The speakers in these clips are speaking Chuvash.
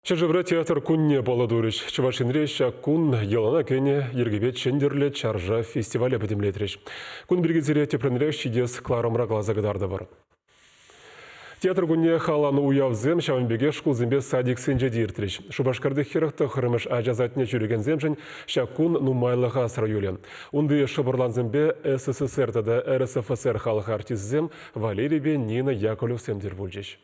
Ҫӗршывра театр кунне паллӑ турӗҫ. Чӑваш Енре ҫак кун йӑлана кӗнӗ йӗркепе Чӗнтӗрлӗ чаршав фестивале пӗтӗмлетрӗҫ. Кун пирки сире тӗплӗнрех ҫитес кӑларӑмра каласа кӑтартӑпӑр. Театр кунне халанӑ уявсем ҫавӑн пекех шкулсемпе садиксенче те иртрӗҫ. Шупашкарти хӗрӗх тӑххӑрмӗш ача садне ҫӳрекенсемшӗн ҫак кун нумайлӑх асра юлӗ. Унти шӑпӑрлансемпе СССР тата РСФСР халӑх артисчӗсем Валерийпе Нина Яковлевсем тӗл пулчӗҫ.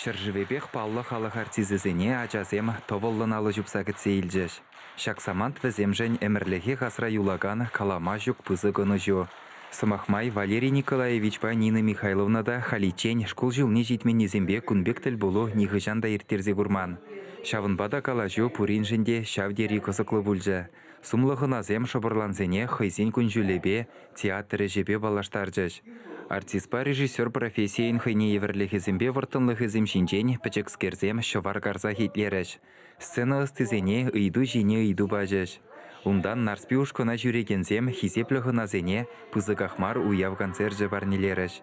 Ҫӗршывӗпех паллӑ халӑх артисӗсене ачасем тӑвӑллӑн алӑ ҫупса кӗтсе илчӗҫ. Ҫак самант вӗсемшӗн ӗмӗрлӗхех асра юлакан калама ҫук пысӑк ӑнӑҫу. Сӑмах май, Валерий Николаевичпа Нина Михайловна та халиччен шкул ҫулне ҫитменнисемпе кун пек тӗлпулу нихӑҫан та ирттерсе курман. Ҫавӑнпа та калаҫу пуриншӗн те ҫав тери кӑсӑклӑ пулчӗ. Сумлӑ хӑнасем шӑпӑрлансене хӑйсен кун-ҫулӗпе, театр ӗҫӗпе паллаштарчӗҫ. Артистпа режиссер профессийӗн хӑйне евӗрлӗхӗсемпе вӑрттӑнлӑхӗсем ҫинчен пӗчӗкскерсем ҫӑвар карсах итлерӗҫ, сцена ӑстисене ыйту ҫине ыйту пачӗҫ. Унтан Нарспи ушкӑна ҫӳрекенсем хисеплӗ хӑнасене пысӑках мар уяв концерчӗ парнелерӗҫ.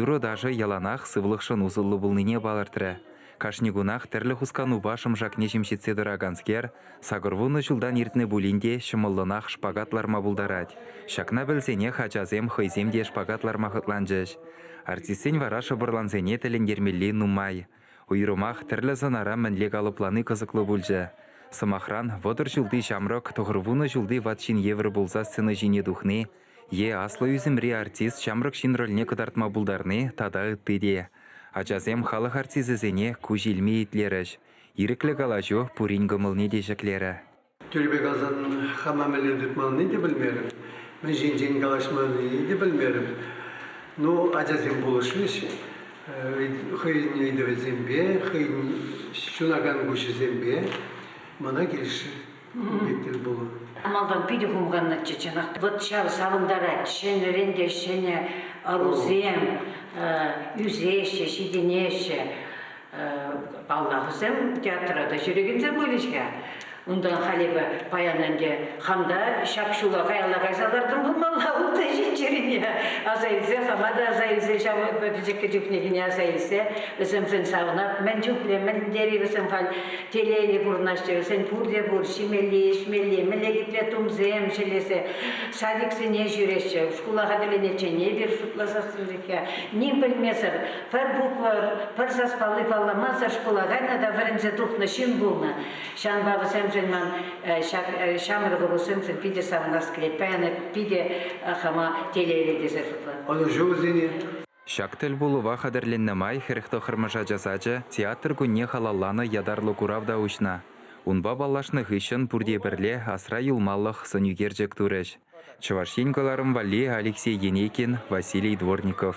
Юрӑ-ташӑ яланах сывлӑхшӑн усӑллӑ пулнине палӑртрӗ. Кашни кунах тӗрлӗ хусканупа шӑмшакне ҫемҫетсе тӑраканскер сакӑрвуннӑ ҫултан иртнӗ пулин те ҫӑмӑллӑнах шпагат ларма пултарать. Ҫакна пӗлсенех ачасем хӑйсем те шпагат ларма хӑтланчӗҫ. Артистсен вара шӑпӑрлансене тӗлӗнтермелли нумай. Уйрӑмах тӗрлӗ сӑнара мӗнле калӑплани кӑсӑклӑ пулчӗ. Сӑмахран, вӑтӑр ҫулти ҫамрӑк тӑхӑрвуннӑ ҫулти ват ҫын евӗр пулса сцена ҫине тухни е аслӑ ӳсӗмри артист ҫамрӑк ҫын рольне кӑтартма пултарни тата ытти те. Ачасем халӑх артисӗсене куҫ илми итлерӗҫ. Ирӗклӗ калаҫу пурин кӑмӑлне те ҫӗклерӗ. Тӳрпе каласан хама мӗнле тытмаллине те пӗлмерӗм, мӗн ҫинчен калаҫмаллине те пӗлмерӗм. Ну, ачасем пулӑшрӗҫ хӑйӗн ыйтӑвӗсемпе, хӑйӗн ҫунакан куҫӗсемпе мана килӗшрӗ. Пепкел пулӑ. Малтан питӗ хумханнӑччӗ, чӑнах. Вӑт ҫав савӑнтарать. Ҫӗнӗрен те ҫӗнӗ ӑрусем ӳсеҫҫӗ, ҫитӗнеҫҫӗ. Палла вӗсем театра та ҫӳрекенсем пулӗҫ-ха. Унтан халӗ паян ӗнтӗ хам та ҫап-ҫула каялла кайса лартӑм пулмалла ултӑ ҫиччӗрине. Аса илсе, хама та аса илсе, ҫав пӗчӗккӗ чухнехине аса илсе, вӗсемшӗн савӑнап. Мӗн чухлӗ, мӗн тери вӗсем халь Телейли пурӑнаҫҫӗ, вӗсен пурте пур, ҫимелли, ӗҫмелли, мӗнле хитре тумсем ҫӗлесе садиксене ҫӳреҫҫӗ. Шкула хатӗрлениччен эпир шутласассӑн ним пӗлмесӗр, пӗр буква, пӗр саспалли палламасӑр шкула кайнӑ та вӗренсе тухнӑ ҫын пулнӑ. Ҫавӑнпа вӗсемшӗн ман ҫак ҫамрӑк ӑрусемшӗн питӗ савӑнас килет. Паян эп питӗ хама телейлӗ тесе шутлатӑп. Ӑнӑҫу вӗсене. Ҫак тӗлпулӑва хатӗрленнӗ май хӗрӗх тӑххӑрмӗш ача сачӗ театр кунне халалланӑ ятарлӑ курав та уҫнӑ. Унпа паллашнӑ хыҫҫӑн пурте пӗрле асра юлмалӑх сӑнӳкерчӗк турӗҫ. Чӑваш Ен кӑларӑм валли Алексей Енейкин, Василий Дворников.